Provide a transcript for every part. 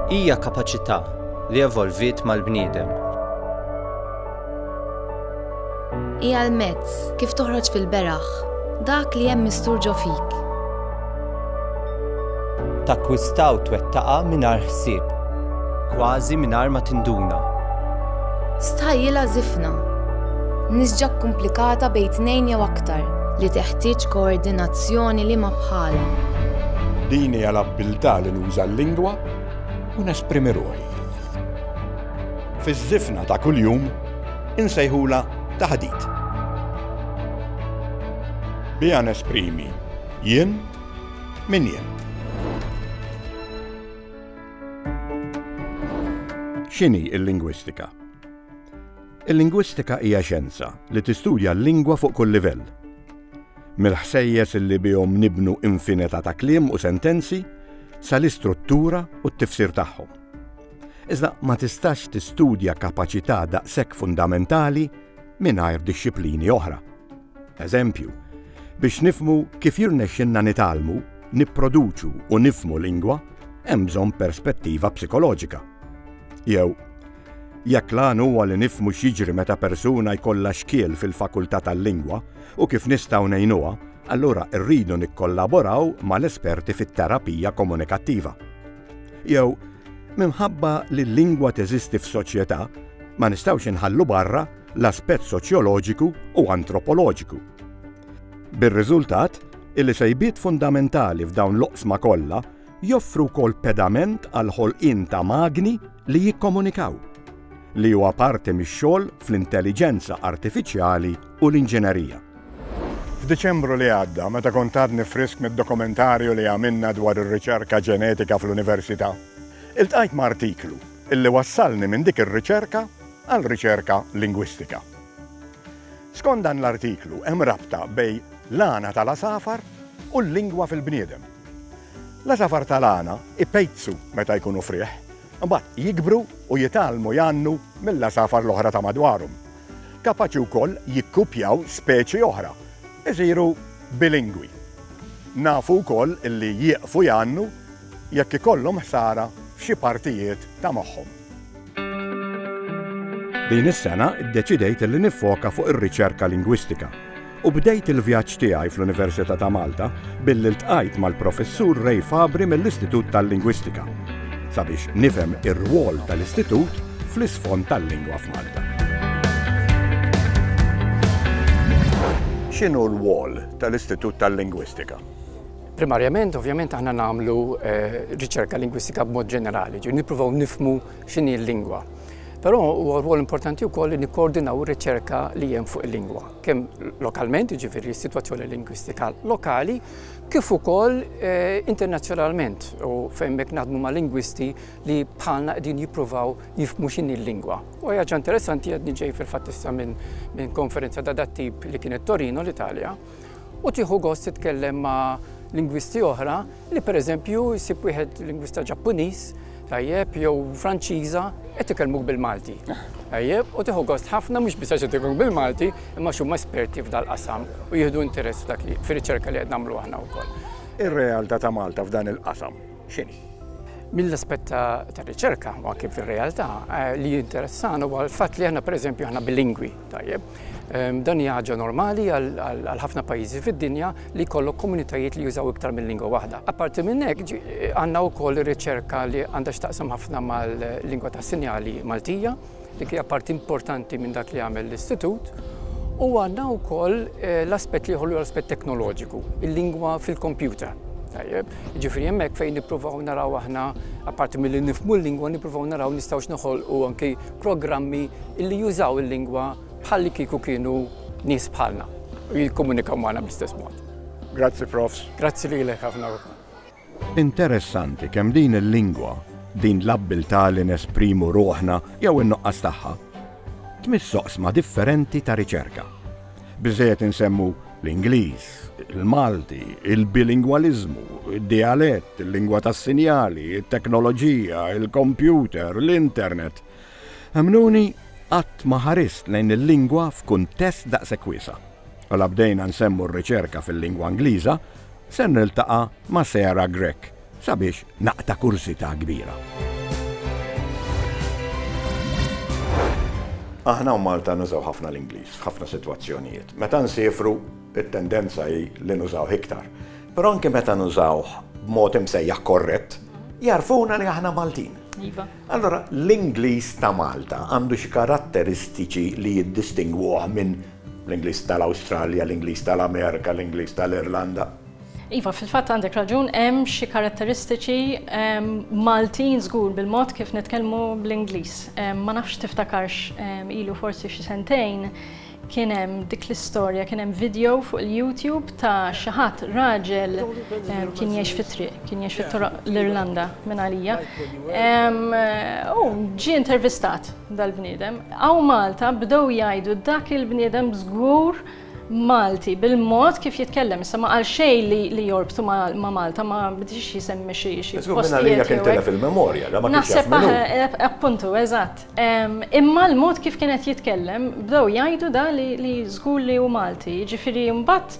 Hija kapaċità li evolviet mal-bniedem. Hija l-mezz kif toħroġ fil-beraħ dak li hemm mistur ġo fik. Takkwistaw twettaqa mingħajr ħsieb. Kważi mingħajr ma tinduna. Stħajjilha żifna. Nisġa kkumplikata bejn tnejn jew aktar. Li teħtieġ koordinazzjoni li ma bħalha. Din hija l-abbiltà li nuża l-lingwa u nesprimi ruħi. Fiż-żifna ta' kuljum insejħulha taħdit. Biha nesprimi jien min jien. X'inhi l-lingwistika? Il-lingwistika hija xjenza li tistudja l-lingwa fuq kull livell. Mill-ħsejjes li bihom nibnu infinità ta' kliem u sentenzi sal-istruttura u t-tifsir tagħhom. Iżda ma tistax tistudja kapaċità daqshekk fundamentali mingħajr dixxiplini oħra. Eżempju, biex nifhmu kif jirnexxilna nitgħallmu, nipproduċu u nifhmu lingwa, hemm bżonn perspettiva psikoloġika. Jew, jekk l-għan huwa li nifhmu x'jiġri meta persuna jkollha xkiel fil-fakultà tal-lingwa u kif nistgħu ngħinuha, allura rridu nikkollaboraw mal-esperti fit-terapija komunikattiva. Jew, minħabba li l-lingwa teżisti f'soċjetà, ma nistgħux inħallu barra l-aspett soċjoloġiku u antropoloġiku. Bir-riżultat illi sejbiet fundamentali f'dawn l-oqsma kollha joffru wkoll pedament għall-ħolqien ta' magni li jikkomunikaw, li huwa parti mix-xogħol fl-intelliġenza artifiċjali u l-inġinerija. F'Diċembru li għadda, meta kont għadni frisk mid-dokumentarju li għamilna dwar ir-riċerka ġenetika fl-Università, iltqajt ma' artiklu illi wassalni minn dik ir-riċerka għal riċerka lingwistika. Skont dan l-artiklu hemm rabta bejn l-għana tal-għasafar u l-lingwa fil-bniedem. L-għasafar tal-għana ipejzu meta jkunu frieħ, imbagħad jikbru u jitgħallmu jgħannu mill-għasafar l-oħra ta' madwarhom. Kapaċi wkoll jikkupjaw speċi oħra, isiru bilingwi. Nafu wkoll li jieqfu jgħannu jekk ikollhom ħsara f'xi partijiet ta' moħħhom. Din is-sena ddeċidejt li niffoka fuq ir-riċerka lingwistika u bdejt il-vjaġġ tiegħi fl-Università ta' Malta billi ltqajt mal-Professur Ray Fabri mill-Istitut tal-Lingwistika sabiex nifhem ir-rwol tal-Istitut fl-isfond tal-lingwa f'Malta. X'inhu r-rwol tal-Istitut tal-Lingwistika? Primarjament, ovvjament, aħna nagħmlu riċerka lingwistika b'mod ġenerali, ġi nippruvaw nifmu x'inhi l-lingwa. Però huwa rwol importanti wkoll li nikkoordinaw ir-riċerka li hemm fuq il-lingwa, kemm lokalment, jiġifieri s-sitwazzjoni lingwistika lokali, kif ukoll eh, internazzjonalment u fejn mek naħdmu ma' lingwisti li bħalna qegħdin jippruvaw jifmu x'inhi l-lingwa. U ħaġa interessanti qed niġej fil-fatt issa minn konferenza ta' dat tip li kienet Torino l-Italja, u tieħu gost titkellem ma' lingwisti oħra li pereżempju jsib wieħed lingwista Ġappuniż tajjeb jew Franċiża qed ikellmuk bil-Malti. Tajjeb, u tieħu gost ħafna mhux biss għax qed bil-Malti, imma x'huma esperti f'dal-qasam u jieħdu interess f'dak li fir-riċerka li qed nagħmlu aħna wkoll. Ir-realtà ta' Malta f'dan il-qasam x'inhi? Mill-aspett ta' riċerka u anke fir-realtà eh, li jinteressana huwa l-fatt li aħna pereżempju aħna bilingwi. Tajjeb. Dan hija ħaġa normali għal ħafna pajjiżi fid-dinja li jkollok komunitajiet li jużaw iktar minn lingwa waħda. Apparti minn hekk, għandna wkoll ir-riċerka li għandha x'taqsam ħafna mal-lingwa tas-sinjali Maltija, dik hija parti importanti minn dak li jagħmel l-Istitut, u għandna wkoll eh, l-aspett li jħollu l-aspett teknoloġiku, il-lingwa fil-kompjuter. Tajjeb, ġifri hemmhekk fejn nippruvaw naraw aħna, apparti mill-li nifmu l-lingwa, nippruvaw naraw nistgħux noħolqu anki programmi li jużaw il-lingwa bħallikieku kienu nies bħalna u jikkomunikaw magħna bl-istess mod. Grazzi Profs. Grazzi lilek ħafna wkoll. Interessanti kemm din il-lingwa, din l-abbiltà li nesprimu ruħna jew in-nuqqas tagħha, tmiss oqsma differenti ta' riċerka. Biżżejjed insemmu l-Ingliż, il-Malti, il-bilingwaliżmu, id-dijalett, il-lingwa tas-sinjali, it-teknoloġija, il-kompjuter, l-internet. Emmnuni qatt ma ħarist lejn il-lingwa f'kuntest daqshekk wiesa'. U la bdejna nsemmu r-riċerka fil-lingwa Ingliża, ser niltaqa' ma' Sarah Grech, Sabiex naqta' kurżità kbira. Aħna u Malta nużaw ħafna l-Ingliż f'ħafna sitwazzjonijiet. Meta nsiefru, it-tendenza hi li nużawh iktar. Però anke meta nużawh b'mod imsejjaħ korrett, jarfuna li aħna Maltin. Iva. Allora, l-Ingliż ta' Malta għandu xi karatteristiċi li jiddistingwuh minn l-Ingliż tal-Awstralja, l-Ingliż tal-Amerika, l-Ingliż tal-Irlanda. Iva, fil-fatt għandek raġun hemm xi karatteristiċi Maltin żgur bil-mod kif nitkellmu bl-Ingliż. Ma nafx tiftakarx ilu forsi xi sentejn kien hemm dik l-istorja, kien hemm video fuq il-YouTube ta' xi ħadd raġel kien jgħix fit-triq, kien jgħix fit-toroq l-Irlanda minn għalija. U ġie intervistat dal-bniedem. Hawn Malta bdew jgħidu dak il-bniedem żgur Malti bil-mod kif jitkellem, issa ma qal xejn li li jorbtu ma' ma' Malta, ma bdiex jisemmi xi xi Żgur minn għalih postijiet jekk jew hekk. intilef il-memorja, le ma kienx jaf Naħseb min hu. aħ- appuntu, eżatt. Ehm, imma l-mod kif kien qed jitkellem, bdew jgħidu da li li żgur li hu Malti. Jiġifieri mbagħad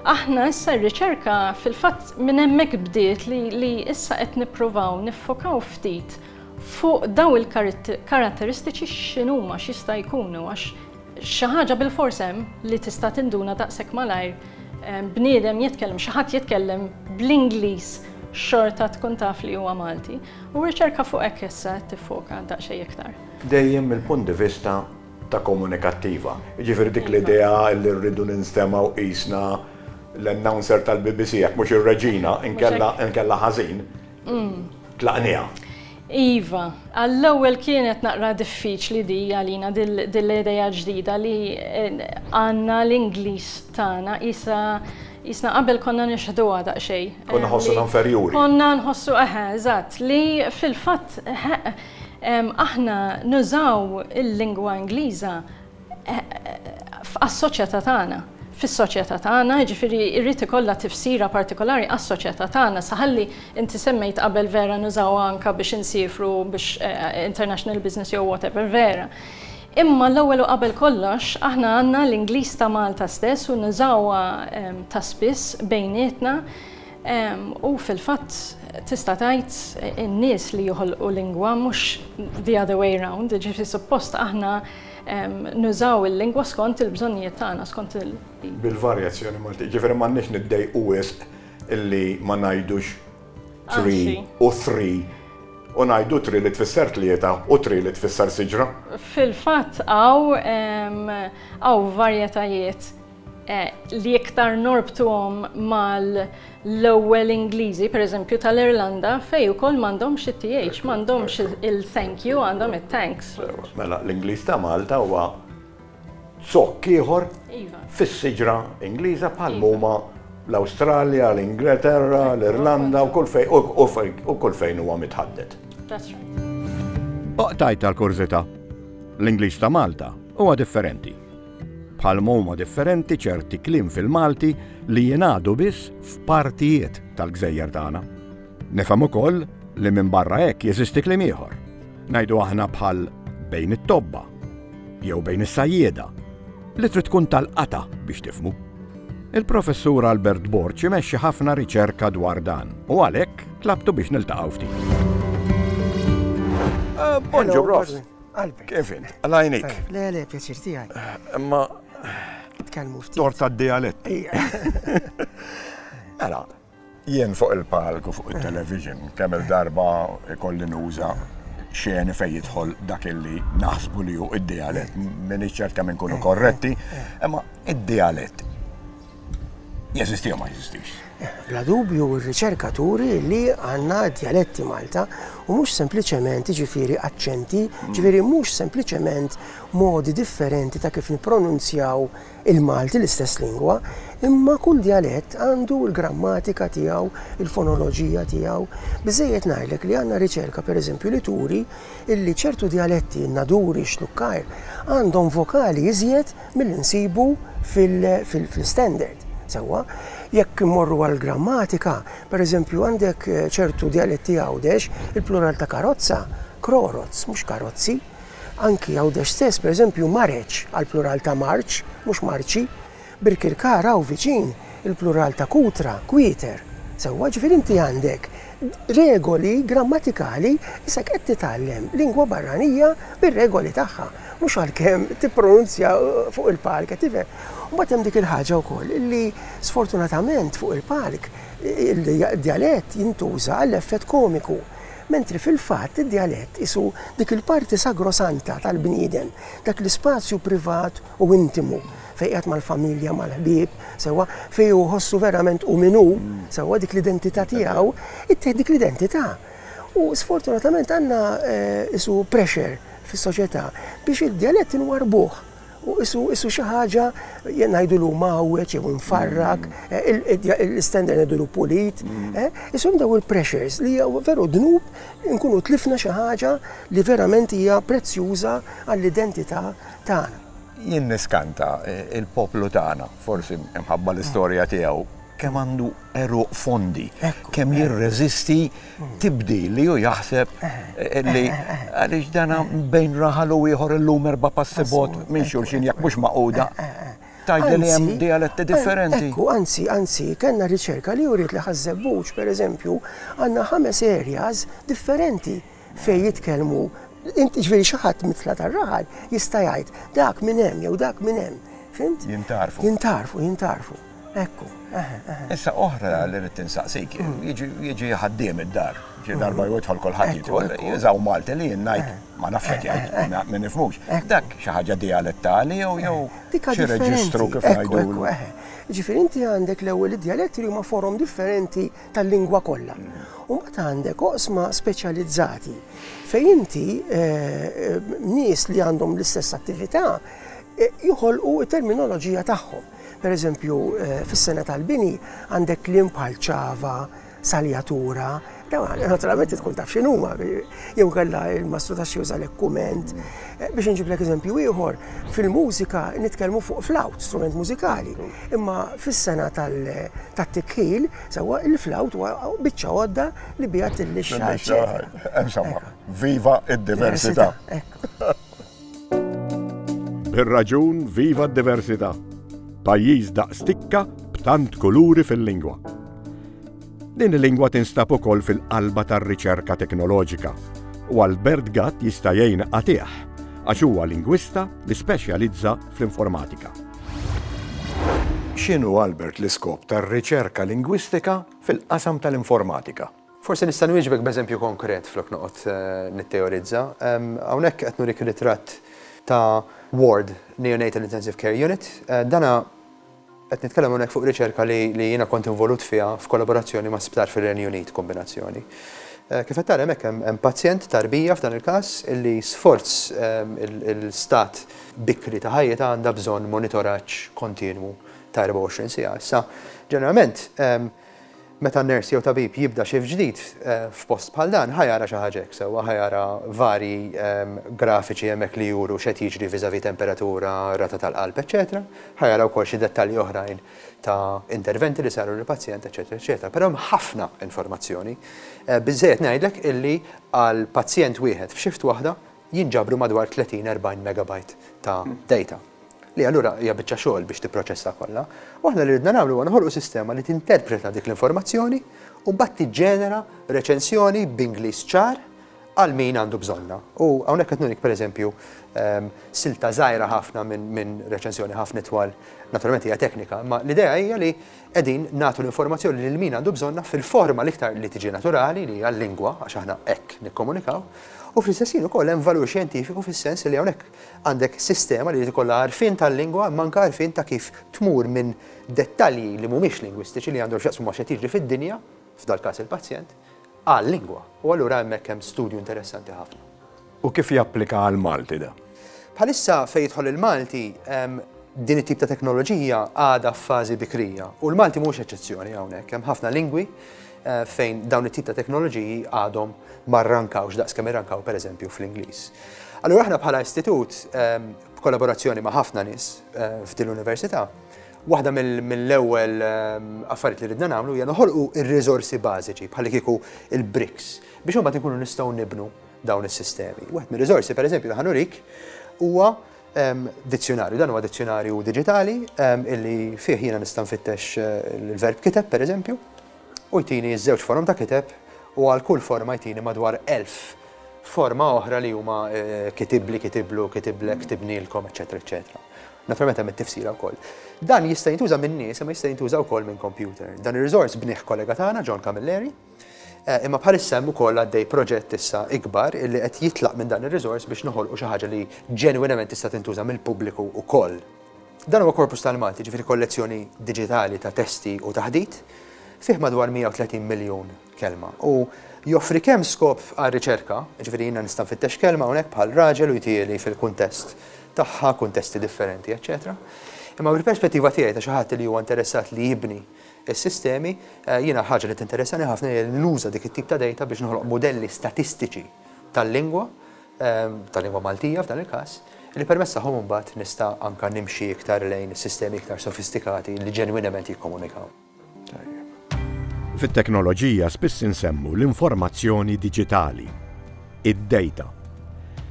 aħna issa r-riċerka fil-fatt minn hemmhekk bdiet li li issa qed nippruvaw niffokaw ftit fuq dawn il-karitt- karatteristiċi x'inhuma, x'jista' jkunu għax Xi ħaġa bilfors hemm li tista' tinduna daqshekk malajr, bniedem jitkellem, xi ħadd jitkellem bl-Ingliż xorta tkun taf li huwa Malti. U r-riċerka fuq hekk issa qed tiffoka daqsxejn iktar. Dejjem mill-punt di vista ta' komunikattiva. Jiġifieri dik l-idea li rridu ninstemgħu qisna l-announcer tal-BBC jekk mhux ir-reġina, inkella ħażin. Mm. Tlaqnija. Iva, għall-ewwel kienet naqra diffiċli di għalina dil-ideja ġdida li eh, għanna l-Ingliż tagħna isa jisna qabel konna nixħdu għada xej. Konna nħossu eh, inferjuri. Konna nħossu eħe, eżatt, li fil-fatt eh, aħna nużaw il-lingwa Ingliża għas-soċjetà tagħna, fis-soċjetà tagħna, jiġifieri jrid ikollha tifsira partikolari għas-soċjetà tagħna. Saħalli, inti semmejt qabel vera nużawha anke biex insiefru biex international business jew whatever, vera. Imma l-ewwel u qabel kollox aħna għandna l-Ingliż ta' Malta stess u nużawha ta' spiss bejnietna u fil-fatt tista' tgħid in-nies li joħolqu lingwa mhux the other way round, jiġifieri suppost aħna Nużaw il-lingwa skont il-bżonnijiet tagħna, skont il. Bil-varjazzjoni Maltija. Jiġifieri m'għandniex niddejqu wisq illi ma ngħidux tree u thri u ngħidu tri li tfisser tlieta u tri li tfisser siġra. Fil-fatt hawn varjetajiet. li iktar norbtuhom mal-ewwel Ingliżi, pereżempju tal-Irlanda, fejn ukoll m'għandhomx it-th, m'għandhomx il-thank you, għandhom it-thanks. Mela l-Ingliż ta' Malta huwa zokk ieħor fis-siġra Ingliża bħal m'huma l-Awstralja, l-Ingleterra, l-Irlanda u kull fejn u kull fejn huwa mitħaddet. Oqtajt għall-kurżità, l-Ingliż ta' Malta huwa differenti. Bħal m'huma differenti ċerti kliem fil-Malti li jingħadu biss f'partijiet tal-gżejjer tagħna. Nifhem ukoll li minn barra hekk jeżisti kliem ieħor. Ngħidu aħna bħal bejn it-tobba jew bejn is-sajjieda li trid tkun tal-qata biex tifmu. Il-professur Albert Borċi imexxi ħafna riċerka dwar dan u għalhekk tlabtu biex niltaqgħu ftit. Eh, Bonġu, Ross. Qalbek. Kif int? Għalajnik. Eh, le, le, pjaċir tijaj. Eh, ma. Tkellmu ftit. Torta d-dialett. Għala, jien fuq il-palku fuq il-television, kemm il-darba ikolli nuża xeni fej jidħol dak illi naħsbu li ju id-dialett, minni ċerta minn kunu eh, korretti, imma id-dialett Jeżisti jew ma jeżistix? Bla dubju r-riċerka turi li għandna djaletti Malta u mhux sempliċement ġifieri aċċenti, mm. ġifieri mhux sempliċement modi differenti ta' kif nippronunzjaw il-Malti l-istess lingwa, imma kull djalett għandu l-grammatika tiegħu, il-fonoloġija tiegħu. Biżejjed ngħidlek li għandna riċerka pereżempju li turi illi ċertu djaletti naduri xlukkajr għandhom vokali iżjed milli nsibu fl-istandard. Sewwa, jekk immorru għall-grammatika, pereżempju għandek eh, ċertu djaletti Għawdex, il-plural ta' karozza, kroroz, mhux karozzi. Anki Għawdex stess, pereżempju mareċ għall-plural ta' marċ, mhux marċi. Birkirkara u viċin, il-plural ta' kutra, kwieter. Sewwa, ġifier inti għandek regoli grammatikali isak qed titgħallem lingwa barranija bir-regoli tagħha. Mhux għalkemm tippronunzja fuq il-palk, qed tifhem. Mbagħad hemm dik il-ħaġa wkoll li sfortunatament fuq il-palk id-djalett jintuża għall-effett komiku. Mentri fil-fatt id-djalett isu dik il-parti sagrosanta tal-bniedem, dak l-ispazju privat u intimu fejn qiegħed mal-familja, mal-ħbieb, sewwa, fejn hu jħossu verament hu min hu, sewwa dik l-identità tiegħu, ittieħ dik l-identità. U sfortunatament għandna eh, isu pressure fis-soċjetà biex id-djalett inwarrbuh u isu isu xi ħaġa ngħidulu mawweġ jew imfarrak, eh, l-istender ngħidulu pulit, mm. eh, isu daw il-pressures li hija veru dnub nkunu tlifna xi ħaġa li verament hija prezzjuża għall-identità tagħna. Jien niskanta eh, il-poplu tagħna, forsi mħabba l-istorja tiegħu, kemm għandu eruq fondi, kemm jirreżisti tibdil li hu jaħseb li għaliex dana bejn raħal u ieħor illum erba' passi bot minn xulxin jekk mhux maquda. Tgħidli li hemm dialetti differenti. Ekku, anzi, anzi, kellna riċerka li uriet li Ħaż-Żebbuġ, pereżempju, għandna ħames areas differenti fejn jitkellmu, jiġifieri xi ħadd mit-tla' tar-raħal jista' jgħid dak minn hemm jew dak minn hemm. Fimt? Jintgħarfu. Jintgħarfu, jintgħarfu. Ekku, eħe, eħe. Issa oħra li rrid insaqsik, jiġi ħaddiem id-dar, xi darba jidħol kulħadd jidħol, jiżaw Malti li jien ngħid, ma nafx qed jgħid, ma nifhmux. Dak xi ħaġa dialettali jew jew xi reġistru kif ngħidu. Ġifieri inti għandek l-ewwel id-dialetti li huma forom differenti tal-lingwa kollha. U mbagħad għandek oqsma speċjalizzati fejn inti nies li għandhom l-istess attività joħolqu t-terminoloġija tagħhom. Pereżempju, fis-sena tal-bini għandek kliem bħal ċava, saljatura, naturalment tkun taf x'inhuma, jew kellha il-mastru ta' xi juża l-ekkument. Eh, biex nġiblek eżempju ieħor, fil-mużika nitkellmu fuq flawt, strument mużikali, imma fis-sena tat-tikħil, sewwa il-flawt huwa biċċa għodda li biha tillixxa. Insomma, viva id-diversità. Bir-raġun viva d-diversità, pajjiż daqs tikka b'tant kuluri fil-lingwa. Din il-lingwa tinstab ukoll fil-qalba tar-riċerka teknoloġika u għal Bert Gatt jista' jgħin qatiegħ għax huwa lingwista li speċjalizza fl-informatika. X'inhu, Albert, l-iskop tar-riċerka lingwistika fil-qasam tal-informatika? Forsi nista' nwieġbek b'eżempju konkret flok noqgħod nittejorizza. Hawnhekk qed nurik ritratt ta' ward, Neonatal Intensive Care Unit. Dan qed nitkellem hawnhekk fuq riċerka li jiena kont involut fiha f'kollaborazzjoni ma' sptar fir-Renju Unit, kombinazzjoni. Kif qed tara hemmhekk hemm pazjent, tarbija f'dan il-każ, illi sforz il-stat bikri ta' ħajjitha għandha bżonn monitoraġġ kontinwu ta' 24 siegħa. Issa, ġeneralment, Meta nurse jew tabib jibda shift ġdid f'post bħal dan, ħa jara xi ħaġa hekk sewwa, ħa jara varji grafiċi hemmhekk li juru x'qed jiġri vis-à-vis temperatura, rata tal-qalb, eċċetera Ħa jara wkoll xi dettalji oħrajn ta' interventi li saru lill-pazjent, eċċetera, eċċetera Però hemm ħafna informazzjoni. Biżżejjed ngħidlek illi għal pazjent wieħed f'shift waħda jinġabru madwar 30, 40 megabyte ta' data, li allura hija biċċa xogħol biex tipproċessa kollha. U aħna li ridna nagħmlu huwa noħolqu sistema li tinterpreta dik l-informazzjoni u mbagħad tiġġenera reċensjoni b'Ingliż ċar għal min għandu bżonna. U hawnhekk qed nurik pereżempju ehm, silta żgħira ħafna minn reċensjoni ħafna twal, naturalment hija teknika, imma l-idea hija li Qegħdin nagħtu l-informazzjoni lil min għandu bżonnha fil-forma l-iktar li tiġi naturali, li hija l-lingwa, għax aħna hekk nikkomunikaw, u fl-istess ħin ukoll hemm valur xjentifiku fis-sens li hawnhekk għandek sistema li jrid ikollha għarfien tal-lingwa imma anke għarfien ta' kif tmur minn dettalji li mhumiex lingwistiċi li għandhom x'jaqsmu ma' x'qed jiġri fid-dinja, f'dal-każ il-pazjent, għal-lingwa. U allura hemmhekk hemm studju interessanti ħafna. U kif japplika għall-Malti dan? Bħalissa fejn jidħol il-Malti, din it-tip ta' teknoloġija għadha f'fażi bikrija u l-Malti mhux eċċezzjoni hawnhekk. Hemm ħafna lingwi eh, fejn dawn it-tip ta' teknoloġiji għadhom ma rrankawx daqskemm irrankaw pereżempju fl-Ingliż. Allura aħna bħala istitut b'kollaborazzjoni ma' ħafna nies eh, f'din l-università, Waħda mill-ewwel ehm, affarijiet li ridna nagħmlu hija noħolqu r-riżorsi bażiċi bħal kieku il-bricks biex imbagħad ikunu nistgħu nibnu dawn is-sistemi. Wieħed mir-riżorsi, pereżempju, li ħanurik huwa dizzjonarju, dan huwa dizzjonarju diġitali illi fih jiena nista' nfittex eh, il-verb kiteb, pereżempju, u jtini ż-żewġ forom ta' kiteb u għal kull forma jtini madwar elf forma oħra li huma eh, kitibli, kitiblu, kitiblek, kitibnilkom, eċetera, eċetera. Naturalment hemm it-tifsira wkoll. Dan jista' jintuża minn nies, imma jista' jintuża wkoll minn computer. Dan ir-riżors bnih kollega tagħna John Camilleri, Imma bħalissa hemm ukoll għaddej proġett issa ikbar illi qed jitlaq minn dan ir-riżors biex noħolqu xi ħaġa li ġenwinament tista' tintuża mill-pubbliku wkoll. Dan huwa korpus tal-Malti, jiġifieri kollezzjoni diġitali ta' testi u ta' ħdit, fih madwar 130 miljun kelma u joffri kemm skop għar-riċerka, jiġifieri jiena nista' nfittex kelma hawnhekk bħal raġel u jtieli fil-kuntest tagħha, kuntesti differenti, eċċetera Imma mill-perspettiva tiegħi ta' xi ħadd li huwa interessat li jibni, is-sistemi, jiena l-ħaġa li tinteressani ħafna hija li nuża dik it-tip ta' dejta biex noħloq mudelli statistiċi tal-lingwa, tal-lingwa Maltija f'dan il-każ, li permezz tagħhom imbagħad nista' anke nimxi iktar lejn sistemi iktar sofistikati li ġenwinament jikkomunikaw. Tajjeb. Fit-teknoloġija spiss insemmu l-informazzjoni diġitali. id-dejta.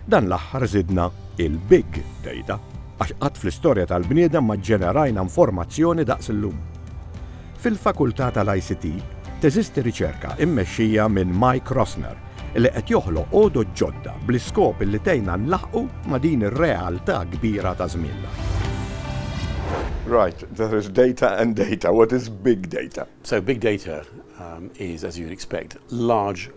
Dan l-aħħar żidna il-big dejta għax qatt fl-istorja tal-bniedem ma ġġenerajna informazzjoni daqs illum. Fil-Fakultà tal-ICT teżisti riċerka mmexxija minn Mike Rosner li qed joħloq għodod ġodda bl-iskop li tgħinna nlaħħqu ma' din ir-realtà kbira ta' żmienna. Right, there is data and data. What is big data? Big data is, as you'd expect, large.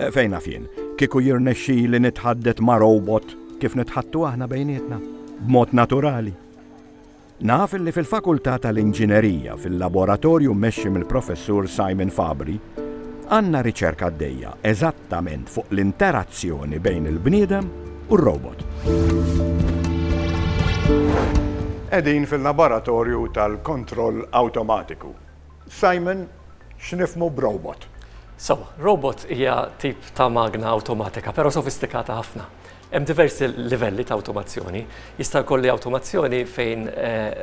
Fejn naf jien, kieku jirnexxili nitħaddet ma' robot kif nitħattu aħna bejnietna, b'mod naturali. Naf li fil-Fakultà tal-Inġinerija, fil-laboratorju mmexxi mill-Professur Simon Fabri, għandna riċerka għaddejja eżattament fuq l-interazzjoni bejn il-bniedem u r-robot. Qegħdin fil-laboratorju tal-kontroll awtomatiku. Simon, X'nifhmu b'robot? Sewwa, robot hija tip ta' magna awtomatika, però sofistikata ħafna. Hemm diversi livelli ta' awtomazzjoni. Jista' jkolli awtomazzjoni fejn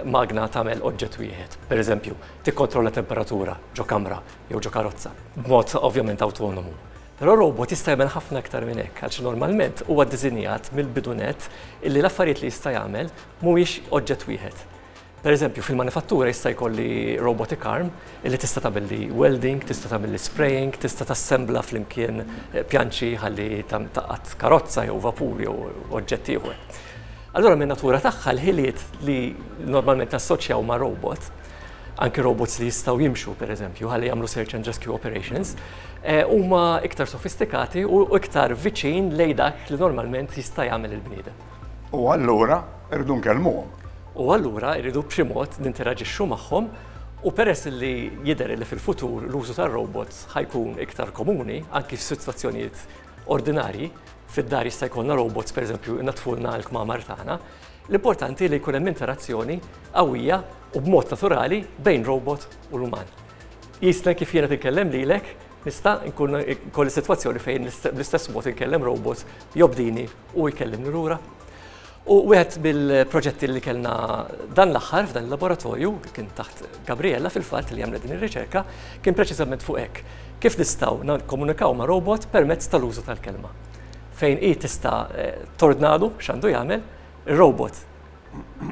magna tagħmel oġġett wieħed, pereżempju, tikkontrolla temperatura ġo kamra jew ġo karozza, b'mod ovvjament awtonomu. Però robot jista' jagħmel ħafna iktar minn hekk, għaliex normalment huwa ddisinjat mill-bidu nett illi l-affarijiet li jista' jagħmel mhumiex oġġett wieħed. Per eżempju, fil-manifattura jista' jkolli robotic arm li tista' tagħmilli welding, tista' tagħmilli spraying, tista' tassembla flimkien pjanċi ħalli taqgħad karozza jew vapur jew oġġett ieħor. Allura min-natura tagħha l-ħiliet li normalment nassoċjaw ma' robot, anki robots li jistgħu jimxu per eżempju ħalli jagħmlu search and rescue operations, eh, huma iktar sofistikati u iktar viċin lejn dak li normalment jista' jagħmel il-bniedem. U allura rridu nkellmuhom. U allura rridu b'xi mod ninteraġixxu magħhom u peress li jidher li fil-futur l-użu tar-robots ħa jkun iktar komuni anki f'sitwazzjonijiet ordinarji, fid-dar jista' jkollna robots pereżempju jnaddfulna l-kmamar tagħna, l-importanti li jkun hemm interazzjoni qawwija u b'mod naturali bejn robot u l-uman. Qisna kif jiena qed inkellem lilek Nista' nkun ikolli sitwazzjoni fejn bl-istess mod inkellem robot jobdini u jkellimni lura. U wieħed mill-proġetti li kellna dan l-aħħar f'dan il-laboratorju, kien taħt Gabriella fil-fatt li għamlet din ir-riċerka, kien preċiżament fuq hekk. Kif nistgħu nikkomunikaw ma' robot permezz tal-użu tal-kelma. Fejn hi tista' tordnalu x'għandu jagħmel, ir-robot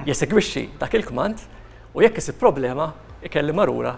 jesegwixxi dak il-kmand u jekk isib problema, ikellimha lura.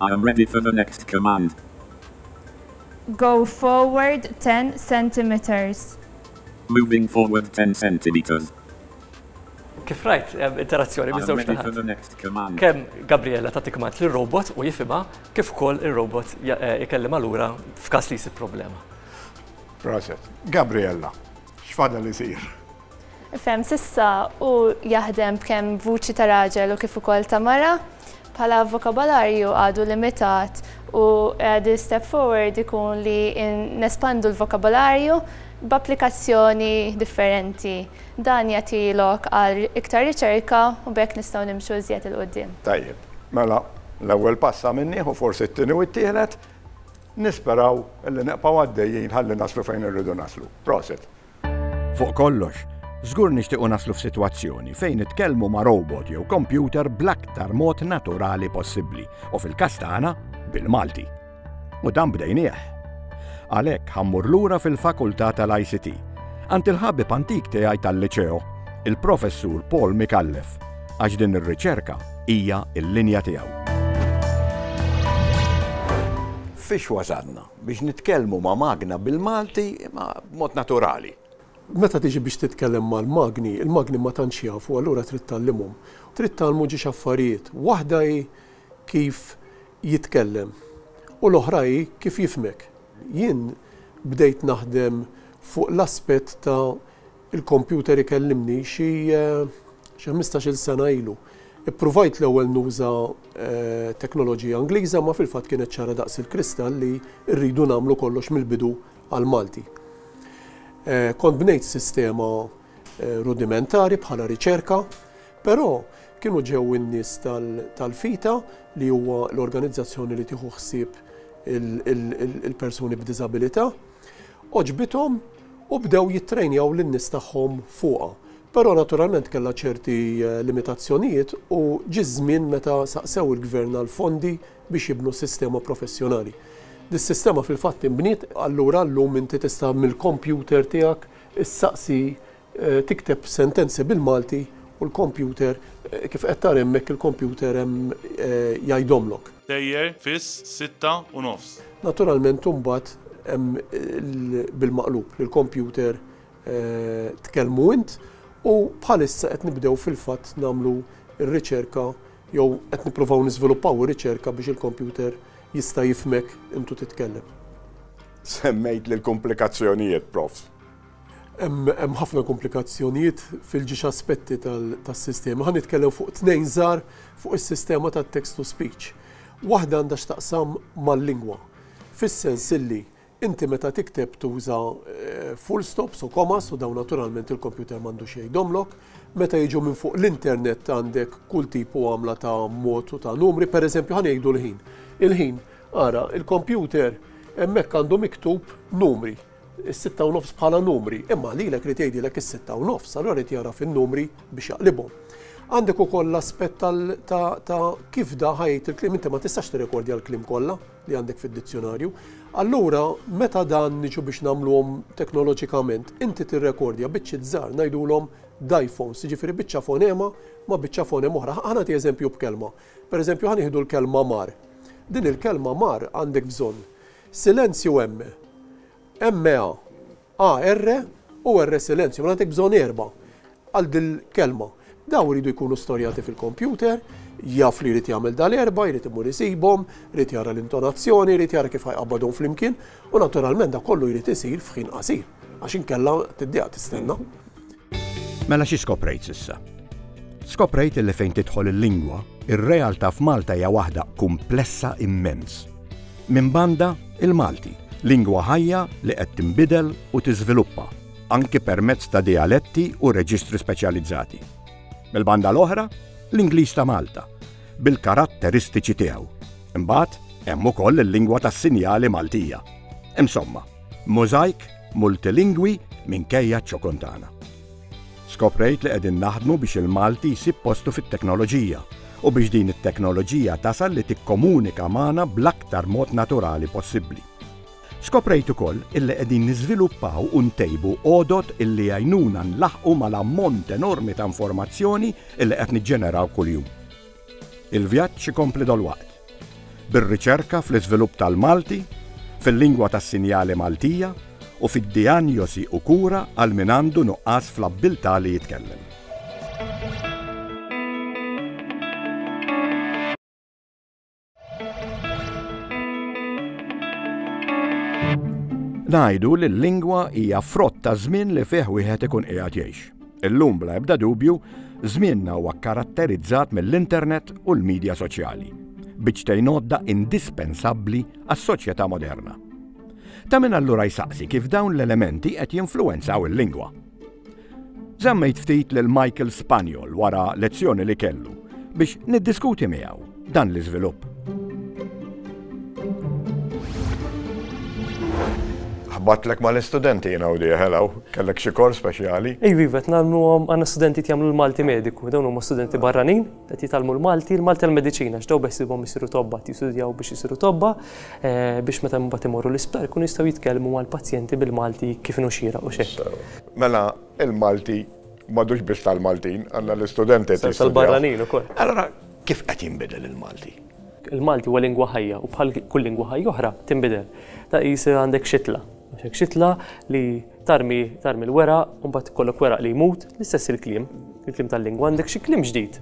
I am ready for the next command. Go forward ten centimetres. Moving forward ten centimetres. Kif rajt, hemm interazzjoni miż-żewġ naħat. Kemm Gabriella tagħti kmand lir-robot u jifhimha kif ukoll ir-robot ikellimha lura f'każ li jsib problema. Proset. Gabriella, x'fadal isir? Ifhem s'issa u jaħdem b'kemm vuċi ta' raġel u kif ukoll ta' mara. Bħala vokabolarju għadu limitat u the step forward ikun li nespandu l-vokabolarju b'applikazzjoni differenti. Dan jagħti lok għal iktar riċerka u b'hekk nistgħu nimxu iżjed 'il quddiem. Tajjeb, mela l-ewwel pass għamilnieħu, forsi t-tieni u t-tielet. Nisperaw li nibqgħu għaddejjin ħalli naslu fejn irridu naslu. Prosit! Fuq kollox, żgur nixtiequ naslu f'sitwazzjoni fejn nitkellmu ma' robot jew kompjuter bl-aktar mod naturali possibbli u fil-każ tagħna bil-Malti. U dan bdejnieh. Għalhekk ħammur lura fil-Fakultà tal-ICT għand il-ħabib antik tiegħi tal-Liċeo, il-Professur Paul Mikallef, għax din ir-riċerka hija l-linja tiegħu. Fiex wasalna? Biex nitkellmu ma' magna bil-Malti imma b'mod naturali. Meta tiġi biex titkellem mal-magni, il-magni ma tantx jafu allura trid tgħallimhom. Trid tgħallmu ġiex affarijiet. Waħda hi kif jitkellem u l-oħra hi kif jifhmek. Jien bdejt naħdem fuq l-aspett ta' Il-kompjuter ikellimni xi xi ħmistax-il sena ilu. Ippruvajt l-ewwel nuża teknoloġija Ingliża imma fil-fatt kienet ċara daqs il-kristall li rridu nagħmlu kollox mill-bidu għall-Malti. Kont bnejt sistema rudimentari bħala riċerka, però kienu ġew in-nies tal-FITA li huwa l-organizzazzjoni li tieħu ħsieb il-persuni b'diżabilità, għoġbithom, u bdew jittrejnjaw lin-nies tagħhom fuqha. Però naturalment kellha ċerti limitazzjonijiet u ġie ż-żmien meta saqsew il-Gvern għal fondi biex jibnu sistema professjonali. Dis-sistema fil-fatt inbniet. Allura llum inti tista' mill-kompjuter tiegħek issaqsi tikteb sentenzi bil-Malti u l-kompjuter, kif qed tara hemmhekk il-kompjuter hemm jgħidhomlok. Tejjer, fis, sitta u nofs. Naturalment imbagħad hemm bil-maqlub li l-kompjuter tkellmu int u bħalissa qed nibdew fil-fatt nagħmlu r-riċerka jew qed nippruvaw niżviluppaw ir-riċerka biex il-kompjuter jista' jifhmek intu titkellem. Semmejtli l-kumplikazzjonijiet, Prof. Hemm ħafna komplikazzjonijiet fil-ġiex aspetti tas-sistema. Ħa nitkellem fuq tnejn żgħar fuq is-sistema tat-text to speech. Waħda għandha x'taqsam mal-lingwa, fis-sens illi inti meta tikteb tuża full stops u commas u dawn naturalment il-kompjuter m'għandux jgħidhomlok. Meta jiġu minn fuq l-internet għandek kull tip u għamla ta' mod u ta' numri, pereżempju ħa ngħidu l-ħin. Il-ħin, ara, il-kompjuter hemmhekk għandu miktub numri. is-sitta u nofs bħala numri, imma għalilek irid jgħidilek is-sitta u nofs, allura irid jagħraf in-numri biex jaqlibhom. Għandek ukoll l-aspett ta' kif da ħajt il-klim, inti ma tistax tirrekordja l-klim kollha li għandek fid-dizzjonarju. Allura, meta dan niġu biex nagħmluhom teknoloġikament, inti tirrekordja biċċi żgħar ngħidulhom dajfons, ġifieri biċċa fonema ma biċċa fonema oħra. Ħana ti eżempju b'kelma. Per eżempju, ħan l-kelma mar. Din il-kelma mar għandek bżonn Silenzju emme. Emme a. A erre u erre silenzju. Mela għandek bżonn erba' għal dil-kelma. Daw iridu jkunu storjati fil-kompjuter, jaf li jrid jagħmel dal-erba, jrid imur isibhom, jrid jara l-intonazzjoni, jrid jara kif ħajqabbadhom flimkien, u naturalment da kollu jrid isir f'ħin qasir, għax inkella tiddiqa tistenna. Mela xi skoprejt s'issa? Skoprejt illi fejn tidħol il-lingwa, ir-realtà f'Malta hija waħda kumplessa immens. Minn banda, il-Malti, lingwa ħajja li qed tinbidel u tiżviluppa, anki permezz ta' dijaletti u reġistri speċjalizzati. Mill-banda l-oħra, l-Ingliż ta' Malta, bil-karatteristiċi tiegħu. Imbagħad, hemm ukoll il-lingwa tas-sinjali Maltija. Insomma, Mosaic multilingwi minkejja ċ-ċokon tagħna. Skoprejt li qegħdin naħdmu biex il-Malti jsib postu fit-teknoloġija u biex din it-teknoloġija tasal li tikkomunika magħna bl-aktar mod naturali possibbli. Skoprejt ukoll illi qegħdin niżviluppaw u ntejbu għodod illi jgħinuna nlaħħqu mal-ammont enormi ta' informazzjoni illi qed niġġeneraw kuljum. Il-vjaġġ ikompli dalwaqt, bir-riċerka fl-iżvilupp tal-Malti, fil-lingwa tas-sinjali Maltija u fid-dijanjosi u kura għal min għandu nuqqas fl-abbiltà li jitkellem. Ngħidu li l-lingwa hija frott ta' żmien li fih wieħed ikun qiegħed jgħix. Illum bla ebda dubju, żmienna huwa kkaratterizzat mill-internet u l-midja soċjali, biċċtejn għodda indispensabbli għas-soċjetà moderna. Ta' min allura jsaqsi kif dawn l-elementi qed jinfluwenzaw il-lingwa. Żammejt ftit lil Michael Spaniol wara lezzjoni li kellu biex niddiskuti miegħu dan l-iżvilupp. Ħbatlek ma l-istudenti jina u diħ, hello, kellek xi kors speċjali? Ej, vivet, namlu għom għanna studenti jagħmlu l-Malti mediku, dawn huma studenti barranin, qed jitgħallmu l-Malti, l-Malti l-mediċina, x'daw beħsibhom isiru tobba, jistudjaw biex isiru tobba, eh, biex meta mbagħad imorru l-isptar kun jistgħu jitkellmu mal-pazjenti bil-Malti kif nuxira u xejn. Mela, il-Malti madux biss tal-Maltin, għanna l-istudenti. Tal-barranin u koll. Allora, kif qed jinbidel il-Malti? Il-Malti huwa lingwa ħajja u bħal kull lingwa ħajja oħra tinbidel. Ta' jisir għandek xitla. Għandek xitla li tarmi tarmi l-wera, mbagħad kollok wera li jmut, l-istess il-kliem, il-kliem tal-lingwa għandek xi kliem ġdid.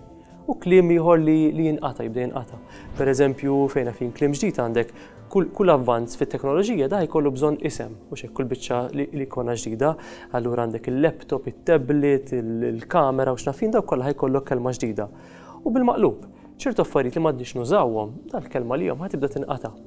U kliem ieħor li jinqata' jibda jinqata'. Pereżempju, fejn għafin kliem ġdid għandek kull avvanz fit-teknoloġija da jkollu bżonn isem, u x'hekk kull biċċa li jkollna ġdida. Allura għandek il-laptop, it-tablet, il-kamera u x'nafjien dawk kollha ħajkollok kelma ġdida. U bil-maqlub, ċertu affarijiet li m'għadniex nużawhom, dal-kelma għalihom ħa tibda tinqata'.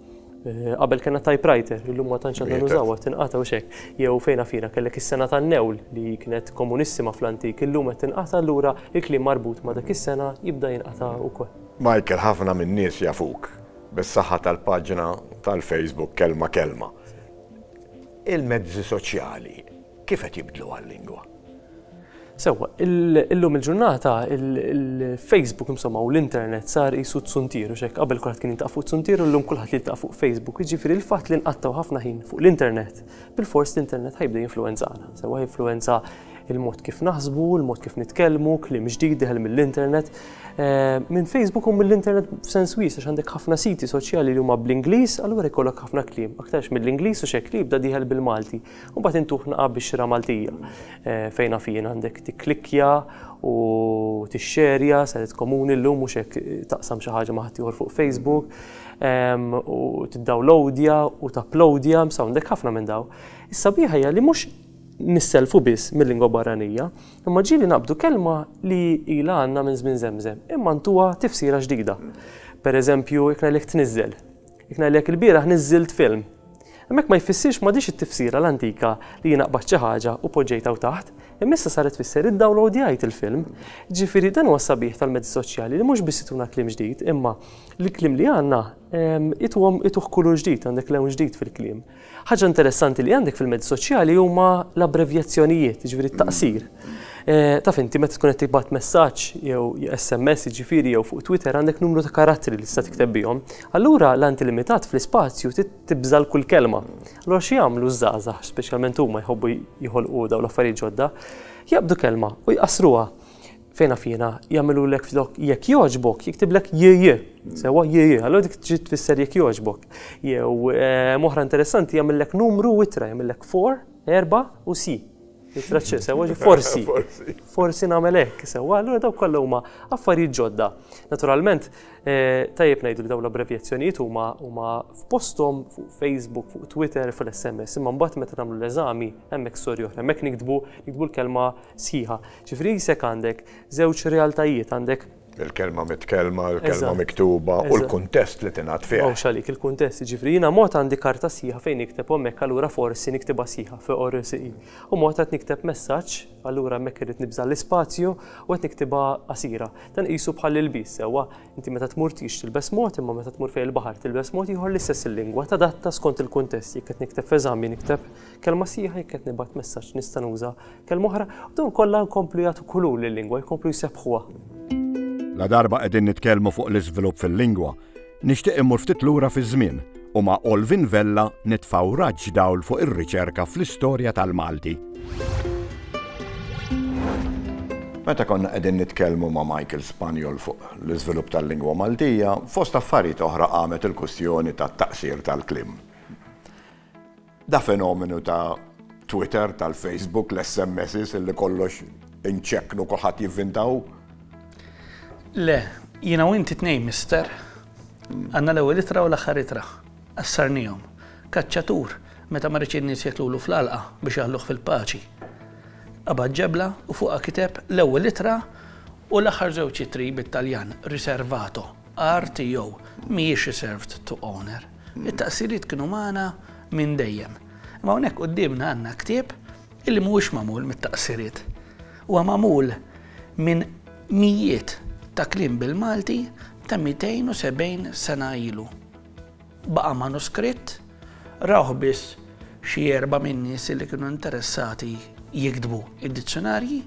Eh, qabel kena typewriter, illum ma tantx għandna nużawha, tinqata' u xek. Jew fejna fina kellek is-sena tan-newl li kienet komunissima fl-antik, illum qed tinqata' allura il-kliem marbut ma' dak is-sena jibda jinqata' ukoll. Michael ħafna min-nies jafuk bis-saħħa tal-paġna tal-Facebook Kelma Kelma. Il-mezzi soċjali Kif qed jibdluha l-lingwa? Sewwa, illum il-ġurnata il-Facebook insomma u l-internet sar qisu tsuntier u xek qabel kulħadd kien jiltaqa' fuq tsuntier u llum kulħadd jiltaqa' fuq Facebook. Jiġifieri l-fatt li nqattgħu ħafna ħin fuq l-internet, bilfors l-internet ħajbda jinfluwenzana. Sewwa jinfluwenza il-mod kif naħsbu, il-mod kif nitkellmu, kliem ġdid diħel mill-internet. Eh, minn Facebook u mill-internet f'sens wies għax għandek ħafna siti soċjali li huma bl-Ingliż, allura jkollok ħafna kliem, aktarx mill-Ingliż u xek li jibda diħel bil-Malti. U mbagħad intuh naqa' bix-xira Maltija. Fejn naf jien għandek tikklikkja u tixxerja saret komuni llum mhux hekk taqsam xi ħaġa ma' ħaddieħor fuq Facebook u tiddawlowdja u tapplowdja, msa għandek ħafna minn dawn. Is-sabiħa hija li mhux nisselfu biss mil-lingwa barranija, imma ġieli naqbdu kelma li ilha għandna minn żmien żemżem, imma ntuha tifsira ġdida. Pereżempju, jekk ngħidlek tniżżel, Jekk ngħidlek ilbieraħ niżżilt film. Hemmhekk ma jfissirx m'għadhiex it-tifsira l-antika li jiena qbadt xi ħaġa u poġġejtha hawn taħt, imma issa saret tfisser iddawlowdjajt il-film. Jiġifieri dan huwa s-sabiħ tal-mezzi soċjali li mhux biss ituna kliem ġdid imma l-kliem li għandna ituhom ituh kulur ġdid, għandek lewn ġdid fil-kliem. Ħaġa interessanti li għandek fil-mezzi soċjali huma l-abbrevjazzjonijiet, jiġifieri t-taqsir. Taf inti meta tkun qed tibgħat messaġġ jew SMS jiġifieri jew fuq Twitter għandek numru ta' karattri li tista' tikteb bihom. Allura l-anti limitat fl-ispazju trid tibżal kull kelma. Allura xi jagħmlu ż-żgħażagħ, speċjalment huma jħobbu jħolqu dawn l-affarijiet ġodda, jaqbdu kelma u jqassruha. Fejn naf jiena, jagħmilulek flok jekk jogħġbok, jiktiblek JJ. Sewwa JJ, allura dik tġi tfisser jekk jogħġbok. Jew moħra interessanti jagħmillek numru u ittra, jagħmillek for, erba' u si. Ittra ċe, sewwa ġi forsi. Forsi nagħmel hekk, sewwa, allura dawk kollha huma affarijiet ġodda. Naturalment, tajjeb ngħidu li dawn l-abbrevjazzjonijiet huma huma f'posthom fuq Facebook, fuq Twitter, fl-SMS, imma mbagħad meta nagħmlu l-eżami hemmhekk storja oħra, hemmhekk niktbu niktbu l-kelma sħiħa. Ġifieri jisek għandek żewġ realtajiet, għandek. Il-kelma mitkellma, il-kelma miktuba u l-kuntest li tingħad fih. Mhux għalik il-kuntest, jiġifieri jiena mod għandi karta sħiħa fejn nikteb u hemmhekk allura forsi niktibha sħiħa FORSI. U mod qed nikteb messaġġ, allura hemmhekk irrid nibża' l-ispazju u qed niktibha qasira. Dan qisu bħal ilbies sewwa, inti meta tmur tix tilbes mod imma meta tmur fejn il-baħar tilbes mod ieħor l-istess il-lingwa tadatta skont il-kuntest, jekk qed nikteb f'eżami nikteb kelma sħiħa jekk qed nibgħat messaġġ nista' nuża Kelma oħra, u dawn kollha jkomplu jagħtu kulur lil-lingwa, jkomplu jsebbħuha. Ladarba qegħdin nitkellmu fuq l-iżvilupp fil-lingwa, nixtieq immur ftit lura fiż-żmien u ma' Olvin Vella nitfgħu raġġ dawl fuq ir-riċerka fl-istorja tal-Malti. Meta konna qegħdin nitkellmu ma' Michael Spaniol fuq l-iżvilupp tal-lingwa Maltija, fost affarijiet oħra qamet il-kwistjoni tat-taqsir tal-kliem. Da fenomenu ta' Twitter, tal-Facebook, l-SMSs illi kollox inċekknu kulħadd jivvintaw? Le, jiena u inti tnejn mister. Għandna l-ewwel ittra u l-aħħar ittra. Qassarnihom. Kaċċatur, meta ma riedx in-nies jeklulu fl-għalqa biex jaħluh fil-paċi. Qabad ġebla u fuqha kiteb l-ewwel ittra u l-aħħar żewġ ittri bit-Taljan, riservato, RTO, mhijiex reserved to owner. It-taqsiriet kienu magħna minn dejjem. Imma hawnhekk quddiemna għandna ktieb illi mhuwiex magħmul mit-taqsiriet. Huwa magħmul minn mijiet ta' kliem bil-Malti ta' 270 sena ilu. Baqa' manuskritt, rawh biss xi erba' min-nies illi kienu interessati jiktbu d-dizzjunarji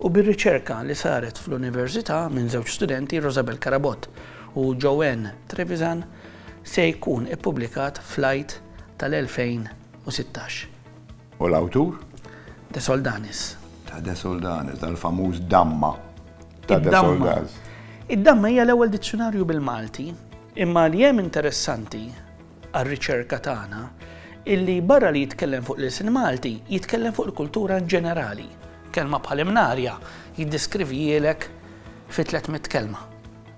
u bir-riċerka li saret fl-Università minn żewġ studenti, Rosabel Carabott u Joanne Trevisan, se jkun ippubblikat fl-Għid tal-2016. U l-awtur? De Soldanis. Ta' De Soldanis, dal-famuż Damma ta' De Soldanis. Id-Damma hija l-ewwel dizzjunarju bil-Malti, imma li hemm interessanti għar-riċerka tagħna illi barra li jitkellem fuq l-ilsien Malti, jitkellem fuq il-kultura in ġenerali. Kelma bħal imnarja jiddeskrivihielek fi 300 kelma.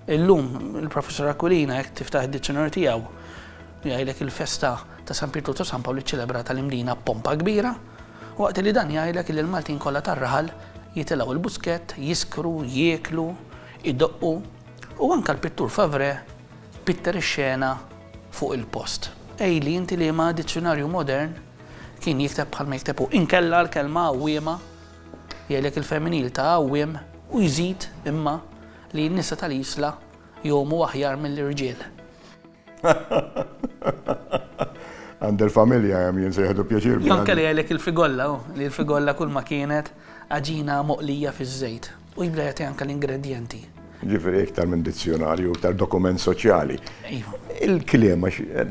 Illum, il-Professur Aquilina jekk tiftaħ id-dizzjonarju tiegħu jgħidlek il-festa ta' San Pietru ta' San Pawl iċċelebrata l-Imdina b'pompa kbira, waqt li dan jgħidlek li l-Maltin kollha tar-raħal jitilgħu l-buskett, jiskru, jieklu, idoqqu u anke l-pittur Favrè pitter ix-xena fuq il-post. Qejli inti liema dizzjonarju modern kien jikteb bħalma jikteb hu. Inkella l-kelma għawwiema jgħidlek il-femminil ta' għawwiem u jżid imma li n-nisa tal-Isla jgħumu aħjar mill-irġiel. Għand il-familja hemm jien se jieħdu pjaċir bi. Anke li għalek il-figolla, li l-figolla kull ma kienet għaġina moqlija fiż-żejt u jibda jagħti anke l-ingredjenti. Ġifieri iktar minn dizzjonarju, iktar dokument soċjali. Iva. Il-kliem,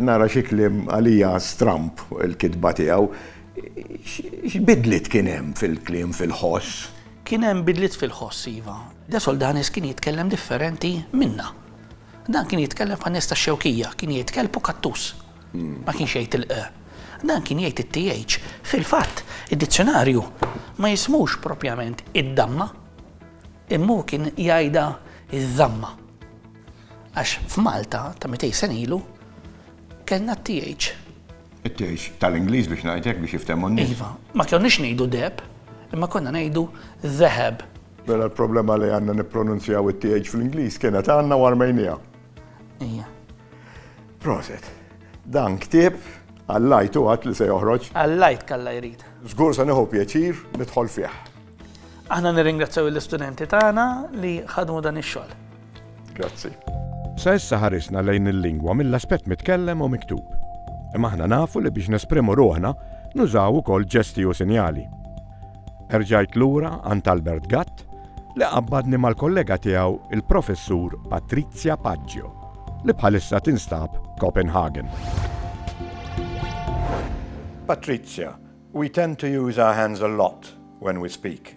nara xi kliem għalija stramp il-kitba tiegħu, x'bidliet kien hemm fil-kliem fil-ħoss? Kien hemm bidliet fil-ħoss, iva. De Soldanis kien jitkellem differenti minna. Dan kien jitkellem fan-nies tax-Xewkija, kien jgħid kelb u kattus. Ma kienx jgħid il-q. Dan kien jgħid it-th. Fil-fatt, id-dizzjonarju ma jismux proprjament id-damma, imma hu kien jgħidha ż-żamma. Għax f'Malta ta' mitej sen ilu, Kellna t-TH. It-TH tal-Ingliż biex ngħid hekk biex jiftehmu n-nies. Iva, ma konniex ngħidu deheb, imma konna ngħidu dheheb. Mela l-problema li għandna nippronunzjaw it-TH fl-Ingliż kienet għandna u armejniha. Ija. Proset. Dan ktieb għall-lajt u għad li se joħroġ. Għall-lajt kalla jrid. Żgur se nieħu pjaċir nidħol fih. Aħna nirringrazzjaw l-istudenti tagħna li ħadmu dan ix-xogħol. Grazzi. Sa issa ħarisna lejn il-lingwa mill-aspett mitkellem u miktub. Imma aħna nafu li biex nesprimu ruħna nużaw ukoll ġesti u sinjali. Erġajt lura għand Albert Gatt li qabbadni mal-kollega tiegħu il-professur Patrizia Paggio li bħalissa tinstab Copenhagen. Patrizia, we tend to use our hands a lot when we speak.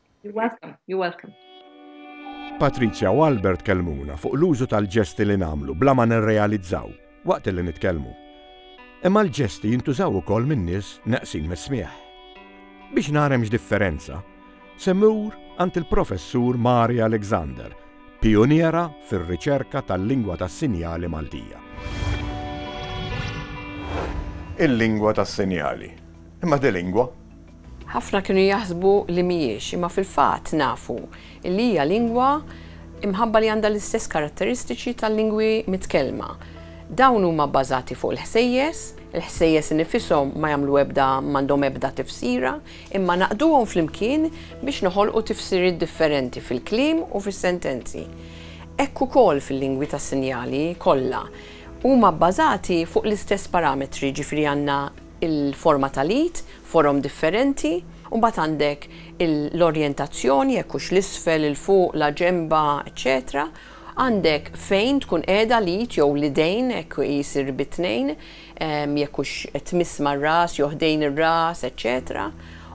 You're welcome, you're welcome. Patrizja u Albert kellmuna fuq l-użu tal-ġesti li nagħmlu bla ma nirrealizzaw waqt li nitkellmu. Imma l-ġesti jintużaw ukoll minn nies neqsin mis-smieħ. Biex narem x'differenza, semmur għand il-professur Mari Alexander, pioniera fir-riċerka tal-lingwa tas-sinjali Maltija. Il-lingwa tas-sinjali. Imma di lingwa? Ħafna kienu jaħsbu li mhijiex, imma fil-fatt nafu li hija lingwa mħabba li għandha l-istess karatteristiċi tal-lingwi mitkellma. Dawn huma bbażati fuq il-ħsejjes, il-ħsejjes innifishom ma jagħmlu ebda m'għandhom ebda tifsira, imma naqduhom flimkien biex noħolqu tifsiriet differenti fil-kliem u fis-sentenzi. Hekk ukoll fil-lingwi tas-sinjali kollha. Huma bbażati fuq l-istess parametri, jiġifieri għandna, il-forma tal-id, forom differenti, u mbagħad għandek l-orjentazzjoni, jekk hux l-isfel, il-fuq, la ġenba, eċċetera Għandek fejn tkun qiegħda l-id jew l-idejn, hekk jsir bi tnejn, jekk hux qed tmiss mar-ras jew ħdejn ir-ras, eċċetera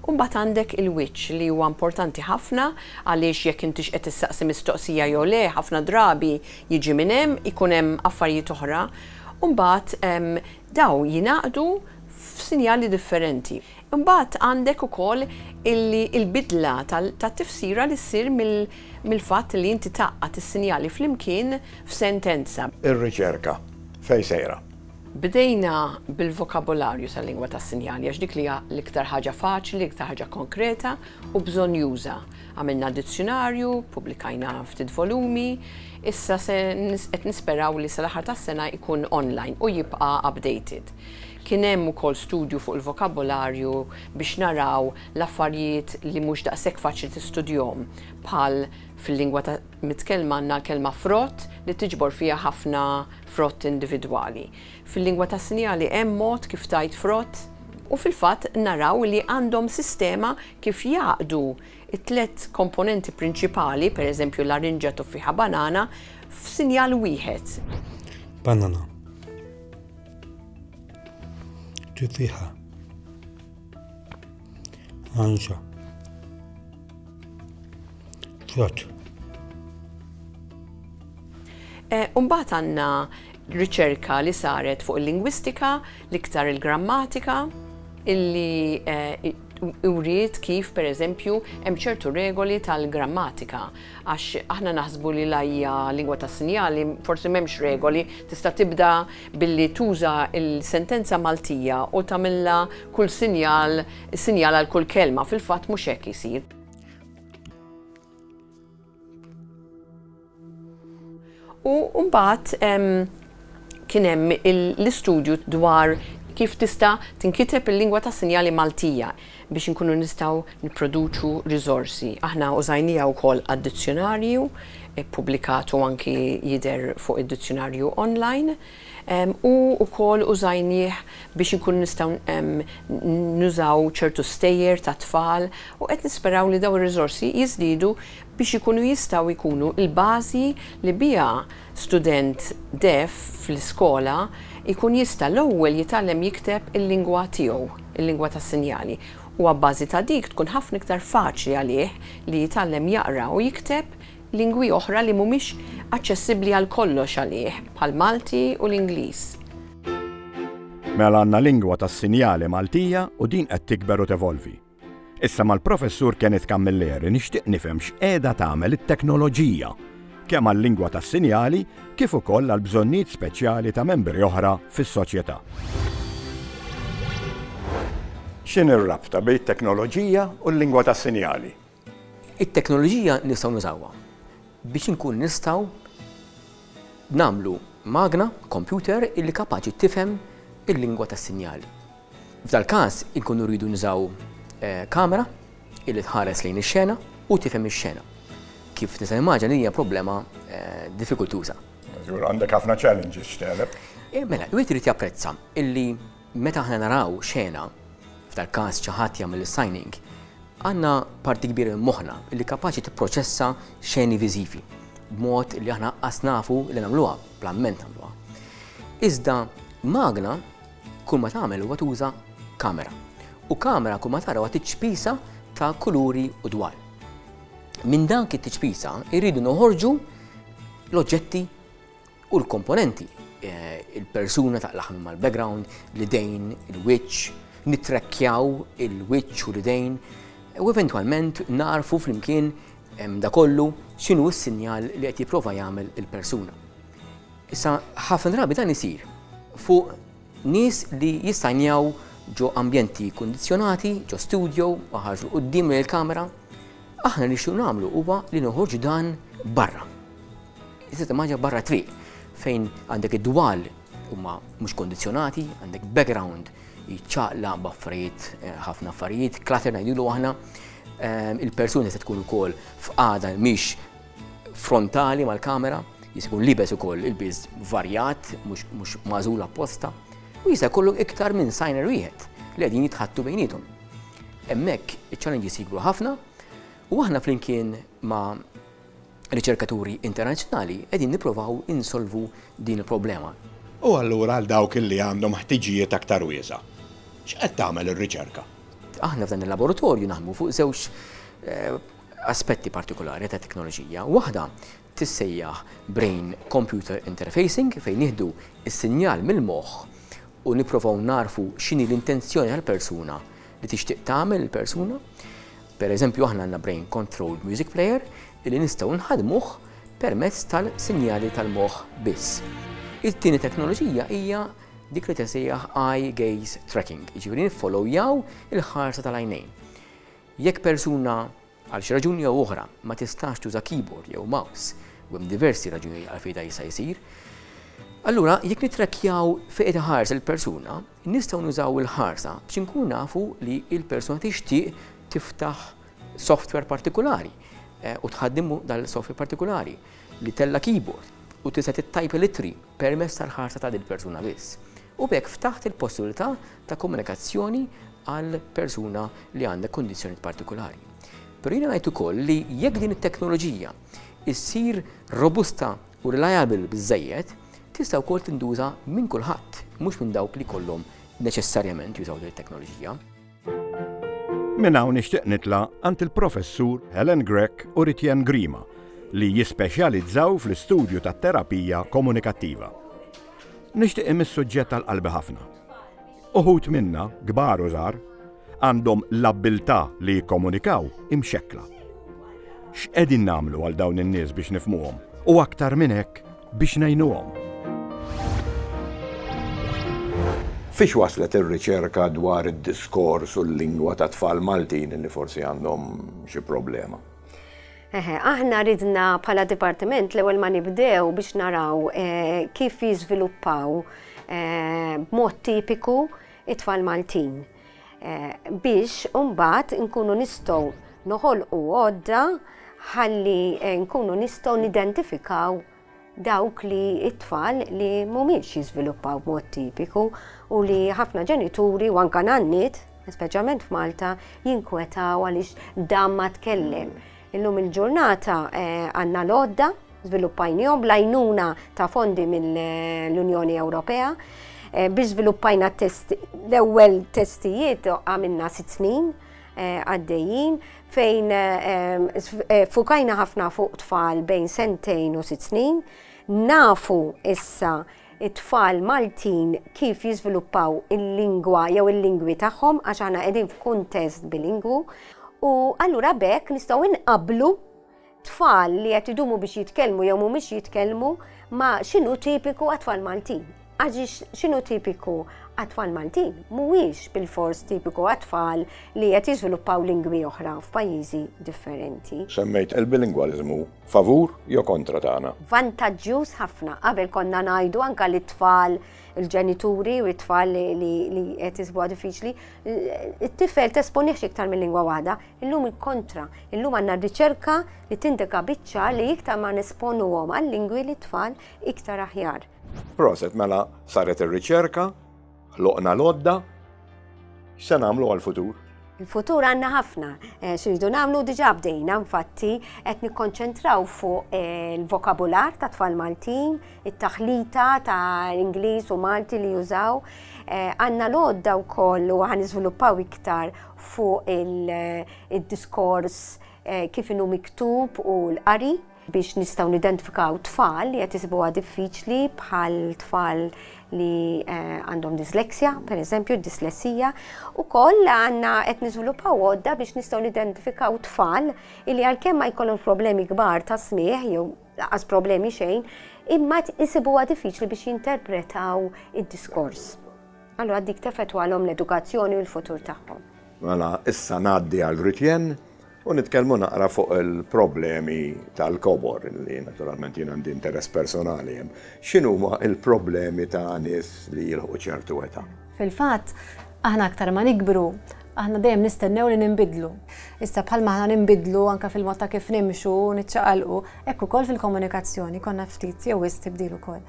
U mbagħad għandek il-wiċċ, li huwa importanti ħafna għaliex jekk intix qed issaqsi mistoqsija jew le, ħafna drabi jiġi minn hemm, ikun hemm affarijiet oħra. U mbagħad Dawn jingħaqdu f'sinjali differenti. Imbagħad għandek ukoll illi l-bidla tat-tifsira li ssir mill-fatt li inti tgħaqqad is-sinjali flimkien f'sentenza. Ir-riċerka fejn sejra? Bdejna bil-vokabolarju tal-lingwa tas-sinjali għax dik li hija l-iktar ħaġa faċli, l-iktar ħaġa konkreta u bżonnjuża. Għamilna dizzjunarju, ppubblikajna ftit volumi, issa se qed nisperaw li sal-aħħar tas-sena jkun online u jibqa' updated. Kien hemm ukoll studju fuq il-vokabolarju biex naraw l-affarijiet li mhux daqshekk faċli tistudjhom bħal fil-lingwa ta' mitkellma għandna l-kelma frott li tiġbor fiha ħafna frott individwali. Fil-lingwa tas-sinjali hemm mod kif tgħid frott? U fil-fatt naraw li għandhom sistema Kif jgħaqqdu t-tliet komponenti prinċipali, per eżempju larinġa, tuffieħa, banana, f'sinjal wieħed? Banana. Tuffieħa. Larinġa. Frott. Eh, Umbat għanna riċerka li saret fuq il-lingwistika, l-iktar il-grammatika, illi eh, wriet kif, per eżempju, hemm ċertu regoli tal-grammatika, għax aħna naħsbu li la hija lingwa ta' sinjali, forsi m'hemmx regoli, tista' tibda billi tuża l-sentenza Maltija u tagħmilha kull sinjal, sinjal għal kull kelma, fil-fatt mhux hekk isir. U mbagħad kien hemm l-istudju dwar kif tista' tinkiteb il-lingwa tas-sinjali Maltija biex inkunu nistgħu nipproduċu riżorsi. Aħna użajniha wkoll għad-dizzjunarju, ippubblikatu anki jidher fuq id-dizzjunarju online. u wkoll użajnieh biex inkunu nistgħu nużaw ċertu stejjer tat-tfal u qed nisperaw li dawn ir-riżorsi jiżdiedu biex ikunu jistgħu jkunu l-bażi li biha student deaf fl-iskola jkun jista' l-ewwel jitgħallem jikteb il-lingwa tiegħu, il-lingwa tas-sinjali, u abbażi ta' dik tkun ħafna iktar faċli għalih li jitgħallem jaqra u jikteb lingwi oħra li mhumiex aċċessibbli għal kollox għalih, bħall-Malti u l-Ingliż. Mela għandna lingwa tas-sinjali Maltija u din qed tikber u tevolvi. Issa mal-Professur Kenneth Camilleri nixtieq nifhem x'qiegħda tagħmel it-teknoloġija kemm għal-lingwa tas-sinjali kif ukoll għall-bżonnijiet speċjali ta' membri oħra fis-soċjetà. X'inhi r-rabta bejn it-teknoloġija u l-lingwa tas-sinjali? It-teknoloġija nistgħu nużawha biex inkunu nistgħu nagħmlu magna, kompjuter, illi kapaċi tifhem il-lingwa tas-sinjali. F'dal-każ inkunu rridu nużaw kamera illi tħares lejn ix-xena u tifhem ix-xena. Kif tista' timmaġina din hija problema diffikultuża. Żgur għandek ħafna challenges x'tegħleb. Mela, wieħed irid japprezza illi Meta aħna naraw xena, f'dal-każ xi ħadd jagħmel is-signing, għandna parti kbira minn moħħna li kapaċi tipproċessa xeni viżivi, b'mod li aħna qas nafu li nagħmluha, bla mment nagħmluha. Iżda magna kull ma tagħmel huwa tuża kamera. U kamera kull ma tara huwa tiċpisa ta' kuluri u dwal. Minn dan kit tiċpisa irridu noħorġu l-oġġetti u l-komponenti, il-persuna taqlagħhom imma l-background, l-idejn, il-wiċċ, nittrekkjaw il-wiċċ u l-idejn u eventwalment nagħrfu flimkien da kollu x'inhu s-sinjal li qed jipprova jagħmel il-persuna. Issa ħafna drabi dan isir fuq nies li jistajnjaw ġo ambjenti kondizjonati, ġo studio, ħarġu qudiem il-kamera, aħna nixtieq nagħmlu huwa li noħorġu dan barra. Iżda timmaġina barra triq fejn għandek id-dwal huma mhux kondizzjonati, għandek background jċaqla b'affarijiet eh, ħafna affarijiet, klater ngħidilu aħna, ehm, il-persuni se tkun ukoll f'qada mhix frontali mal-kamera, jisikun libes ukoll il-biż varjat, mhux mażul apposta, u jista' jkollu iktar minn signer wieħed li qegħdin jitħattu bejnietom. Hemmhekk iċ-challenges jikbru ħafna u aħna flimkien ma' riċerkaturi internazzjonali qegħdin nipprovaw insolvu din il-problema. U allura għal dawk li għandhom ħtiġijiet aktar wiesgħa, x'qed tagħmel ir-riċerka? Aħna f'dan il-laboratorju naħdmu fuq żewġ aspetti partikolari ta' teknoloġija. Waħda tissejjaħ brain computer interfacing fejn nieħdu s-sinjal mill-moħħ u nipprovaw nagħrfu x'inhi l-intenzjoni tal-persuna li tixtieq tagħmel il-persuna. Per eżempju aħna għandna brain controlled music player illi nistgħu nħaddmuh permezz tal-sinjali tal-moħħ biss. It-tieni teknoloġija hija dik li tisejjaħ eye gaze tracking, jiġifieri niffollowjaw il-ħarsa tal-għajnejn. Jekk persuna għal xi raġuni jew oħra ma tistax tuża keyboard jew mouse, u hemm diversi raġunijiet għalfejn dan jista' jsir, allura jekk nittrakkjaw fejn qed iħares il-persuna, Nistgħu nużaw il-ħarsa biex inkunu nafu li l-persuna tixtieq tiftaħ software partikulari u tħaddimu dal-software partikulari li tella' keyboard u tista' tittajpa l-ittri permezz tal-ħarsa ta' dil-persuna biss. U b'hekk ftaħt il-possibilità ta' komunikazzjoni għal persuna li għandha kundizzjonijiet partikulari. Però jiena ngħid ukoll li jekk din it-teknoloġija ssir robusta u reliable biżżejjed, tista' wkoll tintuża minn kulħadd, mhux minn dawk li jkollhom neċessarjament jużaw din it-teknoloġija. Minn hawn nixtieq nitla' għand il-Professur Helen Grech u Ritian Grima li jispeċjalizzaw fl-istudju tat-terapija komunikattiva. Nixtieq imm is-suġġett għal qalbi ħafna. Uħud minna, kbar u żgħar, għandhom l-abbiltà li jikkomunikaw imxekkla. X'qegħdin nagħmlu għal dawn in-nies biex nifhmuhom, u aktar minn hekk, biex ngħinuhom? Fiex waslet ir-riċerka dwar id-diskors u l-lingwa tat-tfal Maltin li forsi għandhom xi problema? Eħe, aħna ridna bħala dipartiment l-ewwel ma nibdew biex naraw kif jiżviluppaw b'mod tipiku it-tfal Maltin. Biex mbagħad nkunu nistgħu noħolqu għodda ħalli nkunu nistgħu nidentifikaw dawk li it-tfal li mhumiex jiżviluppaw b'mod tipiku u li ħafna ġenituri u anka nanniet, speċjalment f'Malta, jinkwetaw għaliex dan ma tkellem. Illum il-ġurnata eh, għandna l-għodda, żviluppajnihom bl-għajnuna ta' fondi mill-Unjoni Ewropea eh, biex żviluppajna l-ewwel testijiet għamilna sitt snin Eh, għaddejjin fejn eh, eh, fukajna ħafna fuq tfal bejn sentejn u sitt snin, nafu issa it-tfal Maltin kif jiżviluppaw il-lingwa jew il-lingwi tagħhom għax aħna qegħdin f'kuntest bilingwu u allura bekk nistgħu inqablu tfal li qed idumu biex jitkellmu jew mhumiex jitkellmu ma x'inhu tipiku għat-tfal Maltin. Għax x'inhu tipiku għat-tfal Maltin mhuwiex bilfors tipiku għat-tfal li qed jiżviluppaw lingwi oħra f'pajjiżi differenti. Semmejt il-bilingwaliżmu favur jew kontra tagħna? Vantaġġjuż ħafna. Qabel konna ngħidu anke li t-tfal il-ġenituri u t-tfal li qed isibuha diffiċli, it-tifel tesponih iktar minn lingwa waħda. Illum il-kontra, illum għandna riċerka li tindika biċ-ċar li iktar ma nesponuhom għal-lingwi li tfal iktar aħjar. Proset, mela saret ir-riċerka, loqna lodda, se nagħmlu għal-futur? Il-futur għanna ħafna, eh, xirridu namlu diġa bdejna, infatti, qed nikkonċentraw fuq eh, il-vokabular ta' tfal Maltin, it-taħlita ta' l-Ingliż u Malti li jużaw, eh, għanna l-odda u koll u għan iktar fuq id-diskors kif inhu miktub u l-qari biex nistgħu nidentifikaw tfal li qed isibuha diffiċli bħal tfal li eh, għandhom dyslexia, per eżempju, dyslexia, u koll għanna qed niżviluppaw għodda biex nistgħu nidentifikaw tfal li għalkemm ma jkollhom problemi kbar ta' smieħ jew laqas problemi xejn, imma isibuha diffiċli biex jinterpretaw id-diskors. Allura dik teffettwalhom l-edukazzjoni u l-futur tagħhom. Mela issa ngħaddi għal Grutjen u nitkellmu naqra fuq il-problemi tal-kobor li naturalment jien għandi interess personali hemm. X'inhuma l-problemi ta' nies li jilħu ċertu età? Fil-fatt, aħna aktar ma nikbru, aħna dejjem nistennew li ninbidlu. Issa bħalma aħna ninbidlu anke fil-mod ta' kif nimxu, niċċaqalqu, hekk ukoll fil-komunikazzjoni konna ftit jew wisq tibdil ukoll.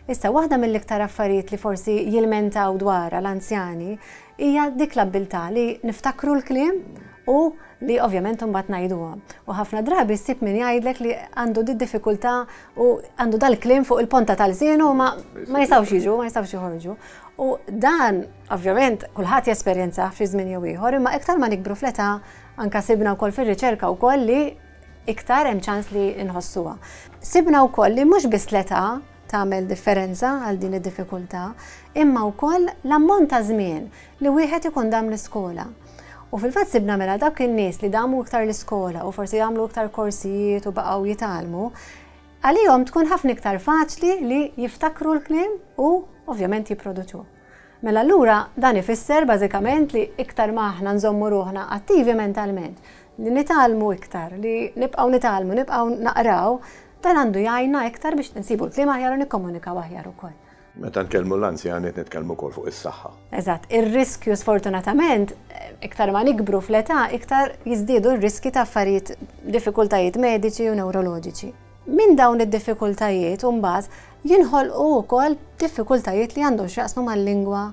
Issa, waħda mill-iktar affarijiet li forsi jilmentaw dwarha l-anzjani hija dik l-abbiltà li niftakru l-kliem u li ovvjament imbagħad ngħiduhom. U ħafna drabi ssib min jgħidlek li għandu did-diffikultà u għandu dal-kliem fuq il-ponta ta' lsienu u ma ma jistgħux jiġu, ma jistgħux joħorġu. U dan, ovvjament, kulħadd jesperjenzah f'xi żmien jew ieħor, imma iktar ma nikbru fl-età, anke sibna wkoll fir-riċerka wkoll li, iktar hemm ċans li nħossuha. Sibna wkoll li mhux biss l-età tagħmel differenza għal din id-diffikultà, imma wkoll l-ammont ta' żmien li wieħed ikun dam l-iskola. U fil-fatt sibna mela dawk in-nies li damu iktar l-iskola u forsi jagħmlu iktar korsijiet u baqgħu jitgħallmu, għalihom tkun ħafna iktar faċli li jiftakru l-kliem u ovvjament jipproduċuh. Mela allura dan ifisser bażikament li iktar ma aħna nżommu ruħna attivi mentalment, li nitgħallmu iktar, li nibqgħu nitgħallmu, nibqgħu naqraw, dan għandu jgħinna iktar biex insibu l-kliem aħjar u nikkomunikaw aħjar ukoll. Meta nkellmu l-anzjani qed nitkellmu wkoll fuq is-saħħa. Eżatt, ir-riskju sfortunatament iktar ma nikbru fl-età iktar jiżdiedu r-riskji ta' affarijiet, diffikultajiet mediċi u newroloġiċi. Minn dawn id-diffikultajiet imbagħad jinħolqu wkoll diffikultajiet li għandhom x'jaqsmu mal-lingwa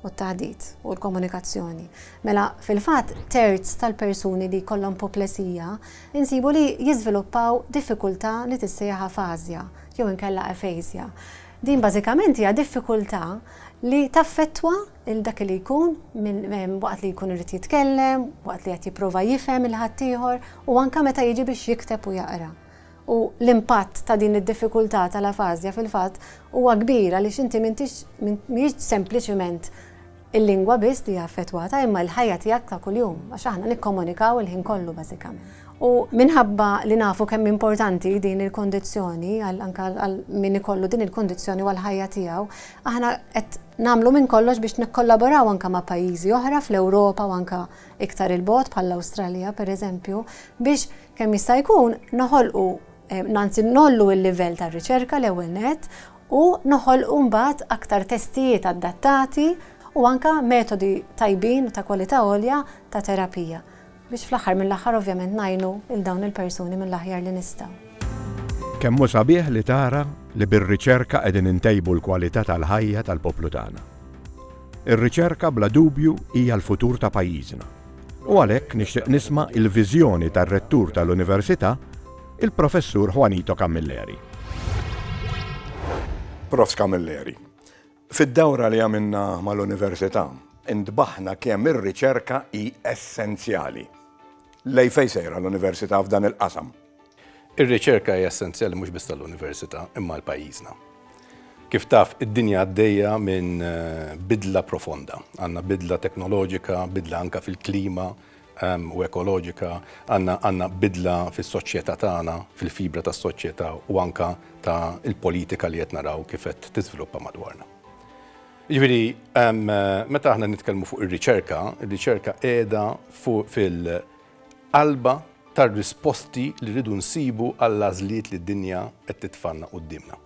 u t-taħdit u l-komunikazzjoni. Mela, fil-fatt, terz tal-persuni li jkollhom puplesija insibu li jiżviluppaw diffikultà li tissejjaħ afażja jew inkella aphasia. Din bażikament hija diffikultà li taffettwa lil dak li jkun waqt li jkun irid jitkellem, waqt li qed jipprova jifhem 'il ħaddieħor u anke meta jiġi biex jikteb u jaqra. U l-impatt ta' din id-diffikultà tal-afażja fil-fatt huwa kbir għaliex inti m'intix, mhijiex sempliċiment il-lingwa biss li hija affettwata imma l-ħajja tiegħek ta' kuljum għax aħna nikkomunikaw il-ħin kollu bażikament. U minħabba li nafu kemm hi importanti din il-kundizzjoni għal anke għal min ikollu din il-kundizzjoni u għall-ħajja tiegħu, aħna qed nagħmlu minn kollox biex nikkollaboraw anke ma' pajjiżi oħra fl-Ewropa u anke iktar 'il bogħod bħall-Awstralja pereżempju biex Kemm jista' jkun noħolqu, anzi ngħollu l-livell tar-riċerka l-ewwel nett u noħolqu mbagħad aktar testijiet adattati u anke metodi tajbin u ta' kwalità għolja ta' terapija biex fl-aħħar mill-aħħar ovvjament ngħinu lil dawn il-persuni mill-aħjar li nistgħu. Kemm hu sabiħ li tara li bir-riċerka qegħdin intejbu l-kwalità tal-ħajja tal-poplu tagħna. Ir-riċerka bla dubju hija l-futur ta' pajjiżna u għalhekk nixtieq nisma' l-viżjoni tar-Rettur tal-Università, il-Professur Juanito Camilleri. Prof. Camilleri, fid-dawra li għamilna mal-Università, intbaħna kemm ir-riċerka hi essenzjali. Lejn fejn sejra l-Università f'dan il-qasam? Ir-riċerka hija essenzjali mhux biss għall-Università imma għal pajjiżna. Kif taf, id-dinja għaddejja minn bidla profonda. Għandna bidla teknoloġika, bidla anke fil-klima u ekoloġika, għandna bidla fis-soċjetà tagħna, fil-fibra tas-soċjetà u anke ta' l-politika li qed naraw kif qed tiżviluppa madwarna. Jiġifieri, meta aħna nitkellmu fuq ir-riċerka, ir-riċerka qiegħda fuq Qalba tar-risposti li rridu nsibu għall-għażliet li d-dinja qed titfgħalna quddiemna.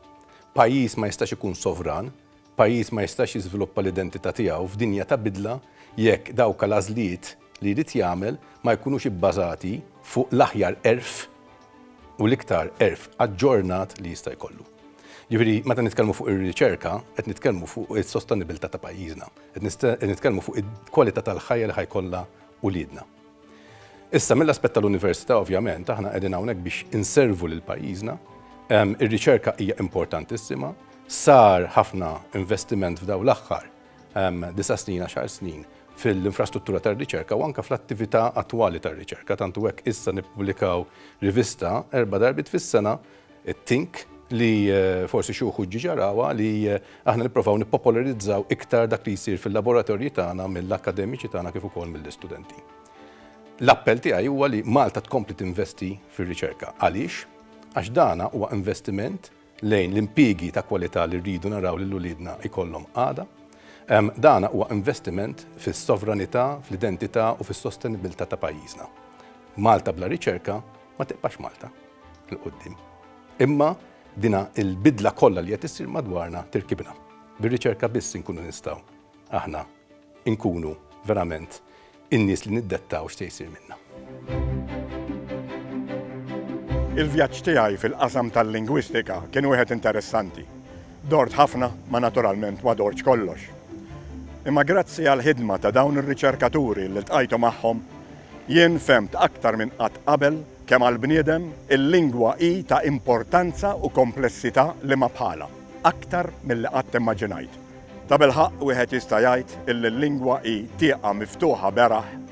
Pajjiż ma jistax ikun sovran, pajjiż ma jistax jiżviluppa l-identità tiegħu f'dinja ta' bidla jekk dawka l-għażliet li jrid jagħmel ma jkunux ibbażati fuq l-aħjar għerf u l-iktar għerf aġġornat li jista' jkollu. Ġifieri, meta nitkellmu fuq ir-riċerka, qed nitkellmu fuq is-sostenibilità ta' pajjiżna, qed nitkellmu fuq il-kwalità tal-ħajja li ħa jkollha uliedna. Issa mill-aspett tal-università ovvjament aħna qegħdin hawnhekk biex inservu lil pajjiżna. Ir-riċerka hija importantissima. Sar ħafna investiment f'daw l-aħħar disa' snin, għaxar snin fil-infrastruttura tar-riċerka u anke fl-attività attwali tar-riċerka. Tant u hekk issa nippubblikaw rivista erba' darbiet fis-sena It-think li forsi xi wħud ġiġa rawha li aħna nipprovaw nippopolarizzaw iktar dak li jsir fil-laboratorji tagħna mill-akkademiċi tagħna kif ukoll mill-istudenti. L-appell tiegħi huwa li Malta tkompli tinvesti fir-riċerka. Għaliex? Għax dana huwa investiment lejn l-impjiegi ta' kwalità li rridu naraw lil uliedna jkollhom għada. Dana huwa investiment fis-sovranità, fl-identità u fis-sostenibilità ta' pajjiżna. Malta bla riċerka Ma tibqax Malta il quddiem Imma dina il-bidla kollha li qed issir madwarna tirkibna. Bir-riċerka biss inkunu nistgħu aħna nkunu verament in-nies li niddettaw x'se jsir minna. Il-vjaġġ tiegħi fil-qasam tal-lingwistika kien wieħed interessanti. Dort ħafna ma naturalment ma dortx kollox. Imma grazzi għall-ħidma ta' dawn ir-riċerkaturi li ltqajtu magħhom, jien fhemt aktar minn qatt qabel kemm għall-bniedem il-lingwa hi ta' importanza u komplessità li ma bħalha, aktar milli qatt immaġinajt. Tabilħaqq wieħed jista' jgħid illi l-lingwa hi tieqa miftuħa beraħ,